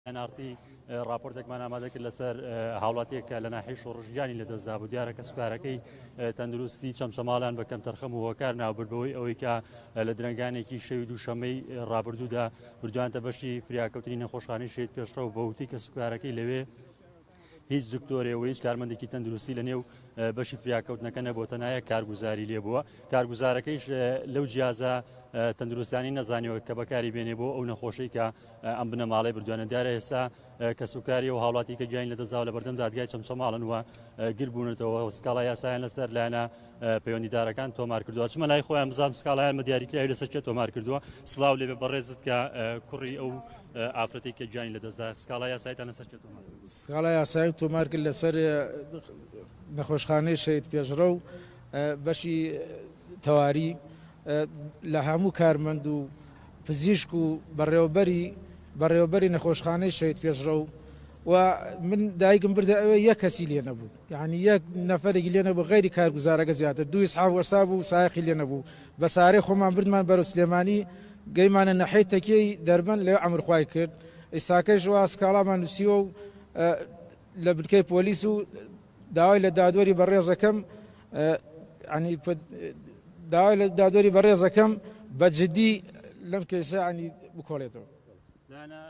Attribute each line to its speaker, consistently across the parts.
Speaker 1: ئەنارتی، ڕاپۆرتێکمان ئامادە کرد لەسەر هاوڵاتیەک کە لە ناحی شۆڕش گیانی لەدەستدا بوو دیارە کە سوکارەکەی تەندروستی چەمچەماڵیان بە کەمتەرخەم و هۆکار ناوبردبەوەی ئەوەی کە لە درنگانێکی شەوی دووشەمەی ڕابردوودا بردوانتە بەشی فریاکەوتنی نەخۆشخانەی شەید پێشڕەو بەوتەی کە سوکارەکەی لەوێ هیچ دکتۆرێ و هیچ کارمەندێکی تەندروستی لە نێو بەشی فریاکەوتنەکە نەبووە تەنایە کارگوزاری لێ بووە کارگوزارەکەیش لەو جیازە تەندروستانی نەزانیەوە کە بەکاری بێنێ بۆ ئەو نەخۆشی کە ئەم بنەماڵی بردوانە دیارە ئێستا کەسوکاری و هاوڵاتی کە گیانی لە دەزااو لە بەردەم دادگای چەمچەماڵن وە گربوونەتەوە سکاڵا یاسایان لەسەر لایەنە پەیوەندیدارەکان تۆمار کردووە چمە لای خۆیان بزانام سکاڵیان بە دیاریکراوی لەسەر کێ تۆمار کردووە سلااو لێ بەڕێزت کە کوڕی ئەو ئافرەتی کە گیانی لە دەستدا سکاڵا یاسایتان لەسەر کێ تۆمار سکاڵا یاسایی تۆمار
Speaker 2: کرد لەسەر نەخۆشخانەی شەید پێشڕە و بەشی تەواری لە هەموو کارمەند و پزیشک و بەڕێوەبەری بەڕێوەبەری نەخۆشخانەی شەید پێشڕە و و من دایکم بردە ئەوێ یە کەسی لێ نەبوو یانی یەک نەفەرێکی لێ نەبوو غەیری کارگوزارەکە زیاتر دوو ئیسعاف وەستا بوو سایەقی لێ نەبوو بە سارێ خۆمان بردمان بەرەو سلێمانی گەیمانە نەحەی تەکیەی دەربەن لەوێ عەمر خوای کرد ئیساکەش وا سکاڵامان نوسیوە و لە بنکەی پۆلیس و داوای لە دادوەری بەڕێزەکەم عنی داوای لە دادوەری بەڕێزەکەم بە جدی لەم کەیسە عنی بکۆڵێتەوە لایەنە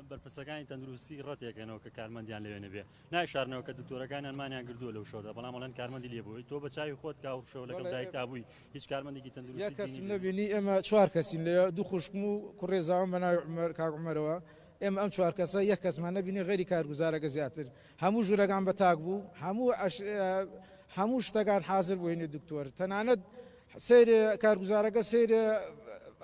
Speaker 1: بەرپرسەکانی تەندروستی ڕەتێکەنەوە کە کارمەندیان لەوێ نەبێ نایشارنەوە کە دکتۆرەکانیان مانیان کردووە لەو شەودا، بەڵام ئەڵێن کارمەندی لێبووی، تۆ بە چاوی خۆت کە ئەو شەو لەگەڵ دایکتا بووی هیچ کارمەندێکی تەندروستیت بینیبێت؟ یەک کەسم نەبینی، ئێمە
Speaker 2: چوار کەسین لەوێ، دوو خوشکم و کوڕێزاوم بە ناوی عومەر، کاک عومەرەوە، ئێمە ئەم چوار کەسە یەک کەسمان نەبینی غەیری کارگوزارەکە زیاتر هەموو ژوورەکان بە تاک بوو، هەموو هەموو شتەکان حازر بوو هەینی دکتۆر تەنانەت سەیرێ کارگوزارەکە سەیرێ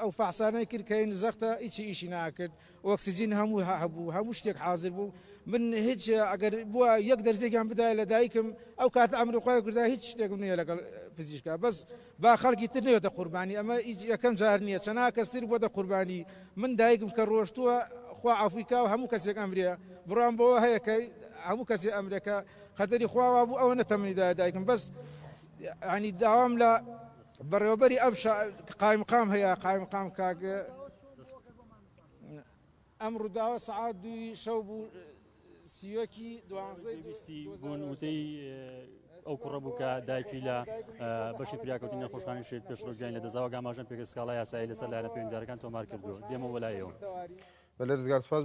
Speaker 2: ئەو فەحسانەی کرد کە هەینی زەختە هیچی ئیشی ناکرد، ئۆکسجین هەموو هەبوو هەموو شتێک حازر بوو من هیچ ئەگەر بووە یەک دەرزێکیان بدایە لە دایکم ئەو کاتە ئەمری خوای کردا هیچ شتێکم نییە لەگەڵ پزیشکا بەس با خەڵکی تر نەوێتە قوربانی ئەمە ئیج یەکەم جار نییە چەنا کەس تر بۆتە قوربانی من دایکم کە ڕۆشتووە خوا عەفوی کا و هەموو کەسێک ئەمرێ بڕوام بەوە هەیە کە هەموو کەسێ ئەمرێ کە قەدەری خوا وا بوو ئەوەنە تەمەنی دایە دایکم بەس یعنی داوام لە بەڕێوەبەری ئەم شا قایمقام هەیە قایمقام کاک ئەم ڕووداوە سەعات دووی شەو بوو سیوەکی دوانزەی بیستی
Speaker 1: بوون وتەی ئەو کوڕە بوو کە دایکی لە بەشی پیاکەوتی نەخۆشخانی شێت پێشڕۆگیان لە دەزاوە گاماژەن پێگە سکاڵای یاسایی لەسەر لایەنە پێوەندارەکان تۆمار کردووە دێمە
Speaker 3: وەلایەوە بە
Speaker 1: لەرزگار سپاس